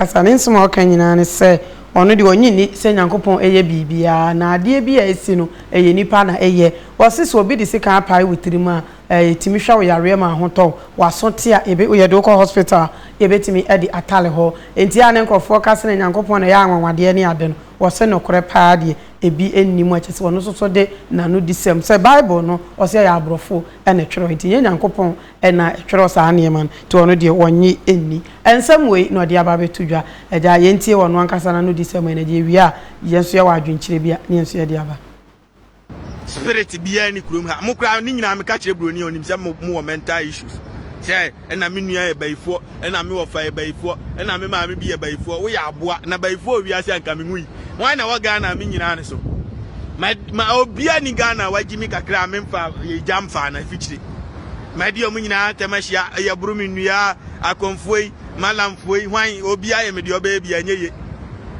ankasa ne nsɛm a ɔka nyinaa ne sɛ ɔno deɛ ɔnnye nni sɛ Nyankopɔn yɛ biribiara, na adeɛ bi a ɛsi no, ɛyɛ nnipa na ɛyɛ. Ɔse sɛ obi de sekan apae wo tirim a, ɛtumi hwɛ wo yareɛ ma ho tɔ wo, w'aso te a, yɛbɛ, yɛde wo kɔ hospital a, yɛbɛtumi adi atale hɔ. Enti a ne nkorɔfoɔ ka sɛ Nyankopɔn na ɛyɛ anwanwadeɛ ne ade no, ɔse nokorɛ paa deɛ, ɛbi nni mu a kyerɛ sɛ ɔno nso so de n'anodisɛm, sɛ Bible no, ɔse ɛyɛ aborɔfo na ɛtwerɛ, enti ɛnyɛ Nyankopɔn na ɛtwerɛ saa nneɛma no, nti ɔno deɛ ɔnnye nni. Nsɛm wei na ɔde aba abɛto dwa. Agya, yɛntie ɔno ankasa n'anodisɛm ɛ, na deɛ ɛwie a, yɛn nso yɛwɔ adwenkyerɛ bi a, na yɛn nso yɛde aba. Spirit biara nni kurom ha. Mo koraa ne nyinaa meka kyerɛ buroni a ɔnim sɛ mo mowɔ mental issues sɛ ɛna me nua yɛ bayifoɔ. na me wɔfa yɛ bayifoɔ na me maame bi yɛ bayifoɔ woyɛ aboa na bayifoɔ wɔ wiase anka me nwui hwan na wɔ Ghana me nyinaa ne so ma ma obia ni Ghana wagye mi kakra me mfa yɛ gya mfa na fikyire ma deɛ ɔmo nyinaa tɛm ahyia yɛ boro me nnua akɔmfoɔ yi malamfoɔ yi hwan obia yɛ me deɛ ɔbɛyɛ bi ɛnyɛ ye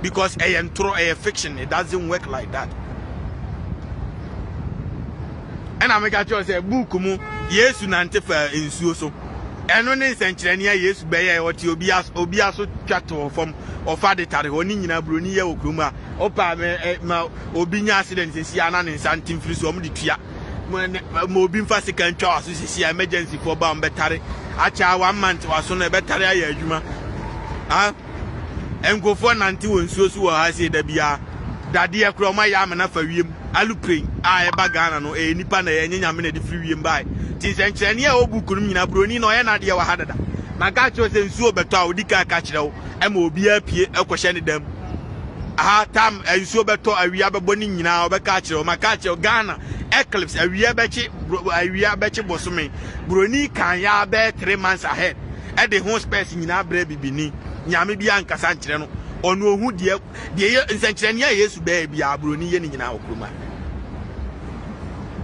because ɛyɛ ntorɔ ɛyɛ fiction it doesn't work like that ɛna meka kyerɛ sɛ buuku mu yesu nante fa nsuo so Ɛno ne nsɛnkyerɛnne a Yesu bɛyɛe, ɔte obi as, obi aso twa to hɔ fam, ɔfa de tare hɔ, ne nyinaa buroni yɛ wɔ kurom a, ɔpa ma, eh, ma obi nya accident sisi a na ne nsa nte mfiri so, wɔn de tua. Ma, ne, ma obi mfa sika ntwa w'aso sisi a emergency foɔ ba wɔn bɛtare akyɛ a one month w'aso no ɛbɛtare ayɛ adwuma. Ah. Nkurɔfoɔ nante wɔ nsuo so wɔ ha sei da biara. Dadeɛ koraa ɔma yɛ amena fa wiem. Aluplane a ɛba Ghana no ɛyɛ nipa na ɛyɛ ɛnyɛ nyame na ɛde firi wiem bae. Nti nsɛnkyerɛnneɛ a ɛwɔ book no mu nyinaa buroni na ɔyɛ n'adeɛ wɔ ha dada. Na nka akyerɛ wo sɛ nsuo rebɛtɔ a ɔdi kan ka kyerɛ wo ɛma obiara pie kɔhyɛ ne dam. Aha tam nsuo bɛtɔ awia bɛbɔ ne nyinaa ɔbɛka akyerɛ wo. Maka akyerɛ wo Ghana eclipse awia bɛkye awia bɛkye bosome. Buroni kan yɛ abɛɛ three months ahead. de ho spɛs nyinaa brɛ bibini nyame bi ankasa nkyerɛ no ɔno ohu deɛ deɛ yɛ nsɛnkyerɛnne a yesu bɛyɛ bi a buroni yɛ ne nyinaa wɔ kuruma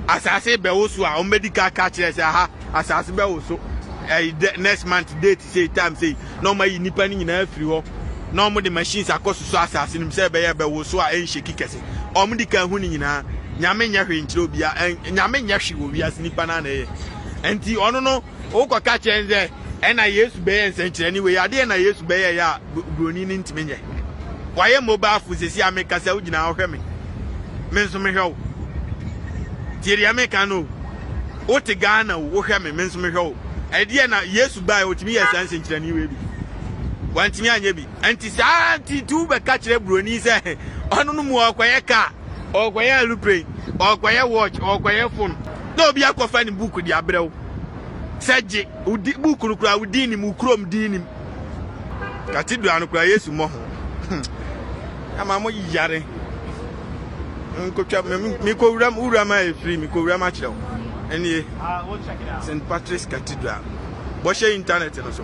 asase bɛwo so a wɔn bɛdi ka ka kyerɛ sɛ aha asase bɛwo so ɛyi next month date say time say na wɔn ayi nipa ne nyinaa afiri hɔ na wɔn de machines akɔ soso asase no mu sɛ ɛbɛyɛ bɛwo so a ɛnhyeki kɛse wɔn di ka hu ne nyinaa nyame nyɛ hwee nkyerɛ obia nyame nyɛ hwee wɔ wiase nipa na na ɛyɛ nti ɔno no Wokɔka kyerɛ no sɛ ɛna Yesu bɛyɛ nsɛnkyerɛnne wei, adeɛ na Yesu bɛyɛ yɛ a buroni no ntumi nyɛ. Wayɛ mobile phone sɛsi a mekasa wo gyina wohwɛ me, me nso mehwɛ wo. Tie deɛ meka no o. Wote Ghana o, wohwɛ me, me nso mehwɛ wo. Ɛdeɛ na Yesu baeɛ ɔtumi yɛ saa nsɛnkyerɛnne wei bi. Wantumi anyɛ bi. Nti saa nti tu bɛka kyerɛ buroni sɛ ɔno no mu ɔkɔyɛ kaa. Ɔrekɔyɛ aeroplane, ɔrekɔyɛ watch, ɔrekɔyɛ phone, na obi akɔfa ne book de abrɛ wo. Sɛ gye, wo di, book no koraa wo din nim, wo kurom din nim. Cathedral no koraa Yesu mmɔ ho. Ama mo yare. Nkotwa, mekɔ wuram, wuram a ɛfiri, mekɔ wuram akyerɛ wo. Ɛnie, St. Patrick's Cathedral. Bɔhyɛ internet no so.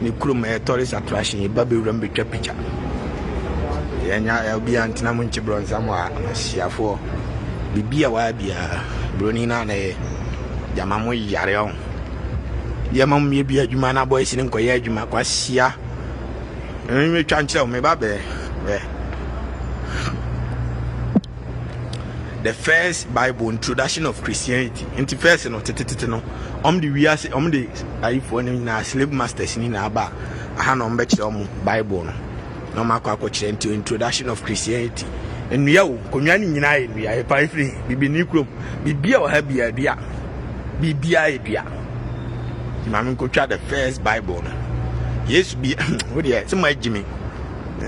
Ne kurom ɛyɛ tourist attraction yɛ ba bɛwura mu bɛtwa picture yɛnya obiara ntena mu nkye brɔnsam a amasiafoɔ biribi a wayɛ biara buroni no a na ɛyɛ gyama mo yare ɔho yɛma mo yɛ bi adwuma no abɔ asini nkɔyɛ adwuma kwasia metwa nkyerɛ wo meba bɛɛ bɛɛ the first bible introduction of christianity nti first no tetetete no ɔm de wiase ɔm de Ayifoɔ no nyinaa, slave masters no nyinaa ba aha na wɔbɛkyerɛ wɔn Bible no na wɔn akɔ akɔkyerɛ nti introduction of Christianity nnua o konwa no nyinaa yɛ nnua ɛpa efiri bibini kurom bibia wɔ ha bia dua bibia yɛ dua maame nkotwa the first Bible no Yesu bi o deɛ sɛ mo agyimi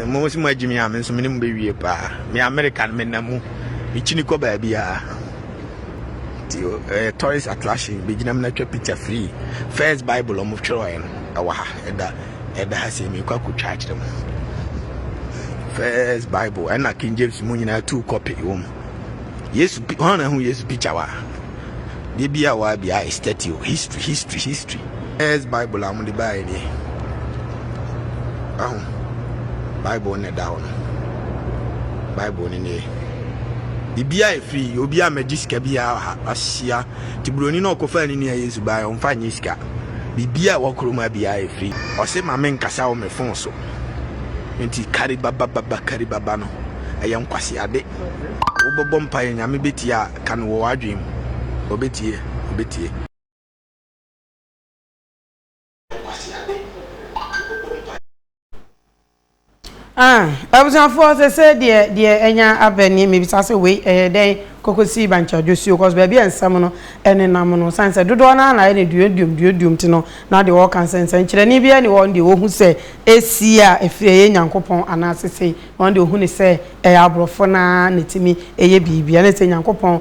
mo sɛ mo agyimi a me nso me ne mo bɛwie paa me America no me nna mu mekyini kɔ baabiara nti ɛyɛ eh, tourist attraction bɛgyinam na atwa picture free first bible ɔmo twerɛɛ no ɛwɔ ha ɛda ɛda ha sɛ mekɔ akɔtwa akyerɛ mu first bible ɛna king james mu nyinaa two copy wɔ mu yesu hɔn na ho yesu picture wa deɛ bi a wa bi a statue history history history first bible a wɔde baeɛ deɛ aho bible na ɛda hɔ no bible ne deɛ biribi a ɛfiri obi a magye sika biara wɔ ha ahyia nti buroni no ɔkɔfaa ne nua yesu baeɛ ɔmfa nyɛ sika biribi a wɔkoro ma biara ɛfiri ɔse ma menkasa wɔ me fon so nti karibabababa karibaba no ɛyɛ nkwaseade wobɔbɔ mpaeɛ nyame bɛtie a ka no wɔ w'adwene mu ɔbɛtie ɔbɛtie Kwasiade ɔka ɔbɔ mpaeɛ. Ah abusuafoɔ sesei deɛ deɛ anya aba nie mebisa sɛ wei ɛyɛ dɛn kokosi bankyadwosuo cos baabi a nsɛm no ɛnenam no sane sɛ dodoɔ no ara na ayɛ no duoduom duoduom nti no na deɛ wɔka nsɛ nsɛnkyerɛnne biara nni hɔ wɔn deɛ wɔhu sɛ ɛsi a ɛfiri ɛyɛ Nyankopɔn anaa sesei wɔn deɛ wɔhu no sɛ ɛyɛ aborɔfo no ara na ɛtumi ɛyɛ biribi ɛne sɛ Nyankopɔn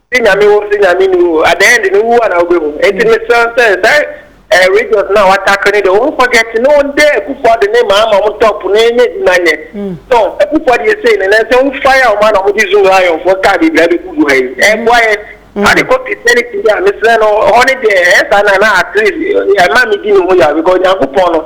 Se Nyame wo se Nyame ni hɔ at the end no wu a na wo bɛ hu enti me srɛ sɛ saa eh, regions na wa tackle ne de wɔn forget ne wɔn dɛ akufo ade ne maa ma wɔn top ne ne di ma nyɛ so akufo ade yɛ sei ne nan sɛ wɔn fire wɔn ana wɔn de zoom lion fo kaa bibira bɛ gugu ha yi ɛboa yɛ ade kɔ christianity bi a me srɛ no hɔ ne deɛ ɛyɛ saa na na at least ɛma me di ne ho yɛ because nyankopɔn no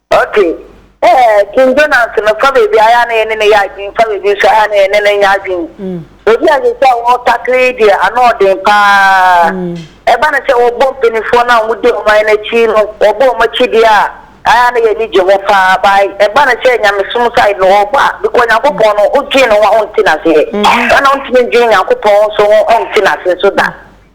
Okay eh King Jonas no fa baabi ayɛ a na yɛne no yɛ adwene fa baabi nso ayɛ a na yɛne no nyɛ adwene baabi a yɛsɛ wɔn takere yi deɛ ano ɔden paa ɛba no sɛ wɔbɔ mpanimfoɔ no a wɔdi ɔman no akyi no wɔbɔ wɔn akyi deɛ a ayɛ a na yɛne gye ho paa bae ɛba no sɛ nyamesom side no wɔbɔ a bikɔ nyankopɔn no wodwene no ho a ɔnte naseɛ ɛna ɔntumi ndwene nyankopɔn nso ho ɔnte nase nso da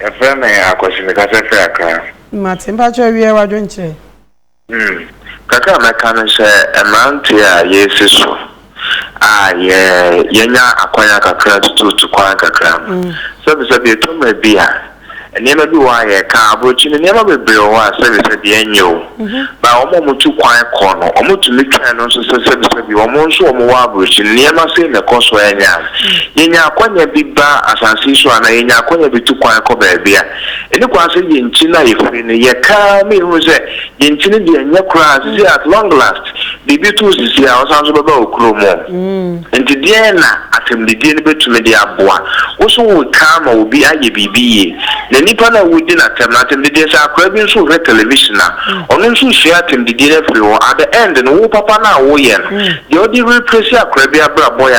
Yɛfrɛ me Akwasi mekasa firi Accra. Mate, mpakyɛw wiɛ wadwen kyerɛ. Hmm, kakra a mɛka ne sɛ mmeranteɛ a yɛresi so a yɛ yɛanya akwanya kakra tutuutu kwan kakra no, sɛbesɛbe ɛtɔ mmerɛ bi a nneɛma bi wɔ hɔ a yɛka, aborɔkyiri no nneɛma bebree wɔ hɔ a sɛbesɛbe ɛnyɛ o. Na wɔn a wɔtu kwan kɔ no, wɔtumi twɛn no nso sɛ sɛbisɛbi wɔn nso wɔwɔ aburokyiri no. Nneɛma sei na ɛkɔ so ara nya a, yenya akwannya bi ba asase yi so anaa yenya akwannya bi tu kwan kɔ baabi a, ɛnni kwan sɛ yɛn ti na yɛfiri no. Yɛka ara a, na yɛhunu sɛ yɛn ti no deɛ ɛnyɛ koraa, seesei at long last, Biribi to wo sisi a, wosan nso bɛba wo kurom o. Enti deɛn na Asɛmdidie no bɛtumi de aboa wo so woka ama obi ayɛ biribi yie? Na nnipa no a wodi no atɛm no, Asɛmdidie, sɛ akwadaa bi nso rehwɛ television a, ɔno nso resua Asɛmdidie no afiri hɔ. At the end no, wo papa no a woreyɛ no, deɛ wode replace akwadaa bi abrabɔ yɛ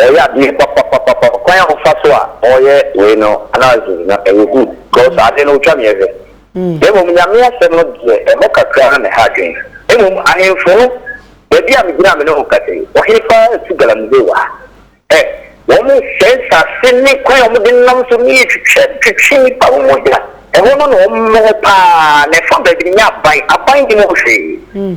Ɔyɛ adeɛ papapapapa kwan a ɔfa so a ɔyɛ wei no analysis no ɛyɛ good because adeɛ no ɔtwa me ɛhwɛ na mmom Nyame asɛm no deɛ ɛhɔ kakra na mɛha adwen mmom ahenfo no baabi a megyina a me ne wo kasa yi ɔhene paa tu galamsey wɔ ha ɛ wɔn sɛe nsase ne kwan a wɔn de nam so ne twitwa twitwi nnipa ho mogya ɛhɔ no na wɔn wɔ paa na ɛfa baabi no nyɛ aban aban nnim ho hwee.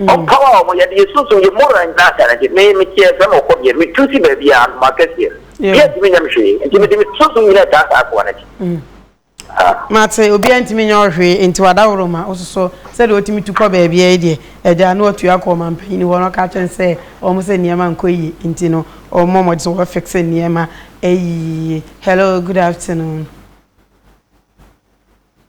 Ɔpaw a wɔyɛ de yɛ sunsum yɛ moral nyinaa atare de, me, meteɛ sɛ mekɔ bea, metu si baabi a, anoma kɛseɛ. Obiara ntumi nyɛ me hwee, nti mede me sunsum nyinaa taa saa akoa no akyi. Mate, obiara ntumi nyɛ wo hwee, nti w'adaworoma, wo soso sɛdeɛ wotumi tu kɔ baabiara yi deɛ, agya no atu akɔ ɔmampanin hɔ na ɔka akyerɛ no sɛ wɔn sɛ nneɛma nkɔ yie, nti no wɔmmɔ mmɔden sɛ wɔbɛ fixe nneɛma ayi yie. Hello, good afternoon.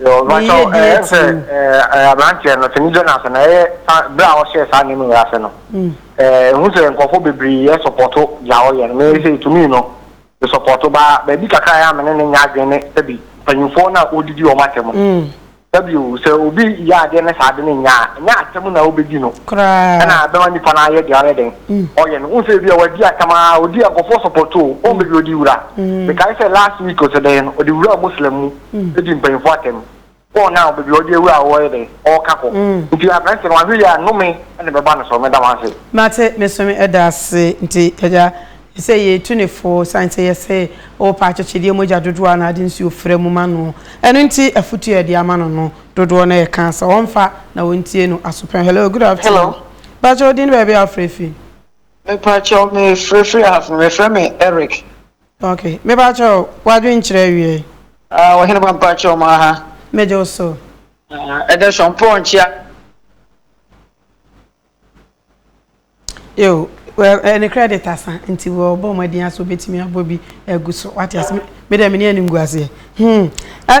Meyɛ deɛ ɛteɛ. Sɛ aberanteɛ no, Sani Jonas no, ɛyɛ berɛ a ɔhyɛɛ saa nneɛma wei ase no, ɛhu sɛ nkurɔfoɔ bebree sɔpɔto deɛ ɔyɛ no. Me sɛ ɛtumii no, me sɔpɔto baa baabi kakra yɛ a me ne no nyɛ adwene ne sɛ bi mpanyinfoɔ no a ɔdidi wɔn atɛm no. Sɛ bio, sɛ obi yɛ adeɛ ne saa ade no nyɛ a, ɛnyɛ atɛm na wobɛdi no na ɛbɛma nipa no ayɛ deɛ ɔyɛ dɛn ɔyɛ no. Wohu sɛ bi a wadi atɛm a, ɔdi a nkurɔfoɔ sɔpɔto o, wɔmpɛ bi ɔde wura. Mekae sɛ last week ɔsɛdɛeɛ no, ɔde wuraa Muslim mu. di mpanyimfo atɛm. Paul na ɔbɛ bi ɔde awura a ɔyɛ dɛ ɔka kɔ. Nti aberanteɛ no wahwe yɛ a nome na ɛbɛ ba no so. Meda mo ase. Mate meso me da ase nti agya sɛ yɛ tu ne fo sane sɛ yɛ se o pɛ akyekyedeɛ mogya dodoɔ a na ade nsuo fra mu ma noɔ ɛno nti afutuo a yɛde ama no no dodoɔ na yɛ ka sɛ ɔnfa na ɔntie no aso pɛn hello good afternoon pakyɛ odin baabi a wofrɛ firi. Mepakyɛw me frɛ firi ahafen mefrɛ me Eric. Ok, mepakyɛ o, w'adwen kyerɛ awiei. Ah, ɔhene ba mpakyɛ ɔmo aha. Megye wo so. Ah, ɛdɛ sɔn pɔɔ nkyia. Yo, well, eh, ne credit asa, nti wɔ bɔ mmɔden asa obetumi abɔ bi agu so. Wate ase, me dɛ me ne ani ngu aseɛ. Hmm, eh,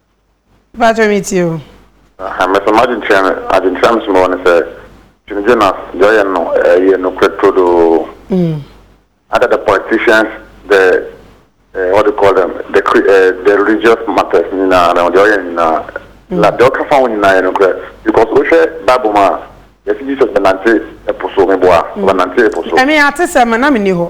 Mpakyɛ me tie o. Aha me so m'adwenkyerɛ no adwenkyerɛ a me so mewɔ ne sɛ Jim Jonas deɛ ɔyɛ no ɛyɛ nokorɛ turodoo other the politicians the uh, what do you call them the uh, the religious matters nyinaa no deɛ ɔyɛ nyinaa na deɛ ɔka fa ho nyinaa yɛ nokorɛ because wohwɛ bible mu a yɛsi Jesus bɛnante ɛpo so meboa ɔbɛnante ɛpo so ɛmi ate sɛ ma na mi ni hɔ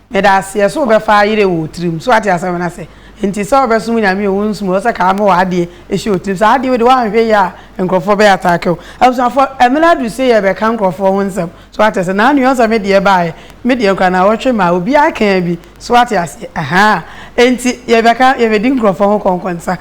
Meda aseɛ so wobɛfa ayerɛ wɔ otirim so wate asɛm no ase nti sɛ wobɛsom nyame o wonsum o ɔsɛ kaa mowɔ adeɛ hyɛ otirim saa adeɛ wei deɛ woanhwɛ yie a nkorɔfoɔ bɛ attack wo abusuafoɔ ɛmene aduru sei yɛbɛka nkorɔfoɔ ho nsɛm so wate ase naa nua ɔsɛ medeɛ baeɛ medeɛ koraa naawɔtwe maa obiara kaa bi so wate aseɛ ahaa enti yɛbɛka yɛbɛdi nkorɔfoɔ ho kɔnkɔnsa.